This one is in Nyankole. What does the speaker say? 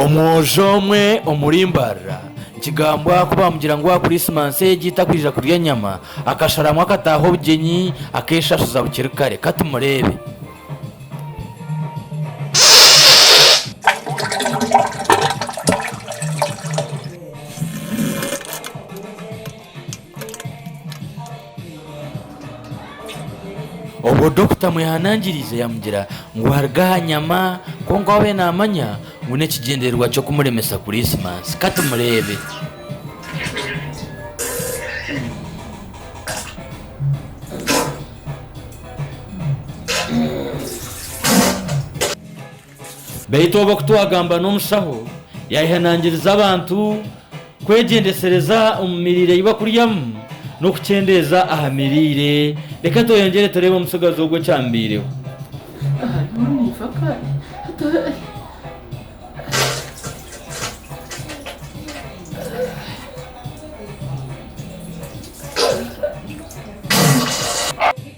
Omwojo omwe omuri Mbarara, nikigambwa ku baamugira ngu aha Kuriisimansi egi takwija kurya nyama, akasharamu akataaha obugyenyi akeeshashuza bukiri kare. Ka tumureebe. Obwo Dokita amwehanangiriize yamugira ngu aruge aha nyama kwonka abe namanya ngu n'ekigyendererwa ky'okumuremesa Kuriisimansi. Kati mureebe. Beitu obu okutwagamba n'omushaho yayehanangiriza abantu kwegyendesereza omu miriire ei bakuryamu n'okukyendeeza aha miriire. Reka tweyongyere tureebe omutsigazi ogu ekyamubaireho.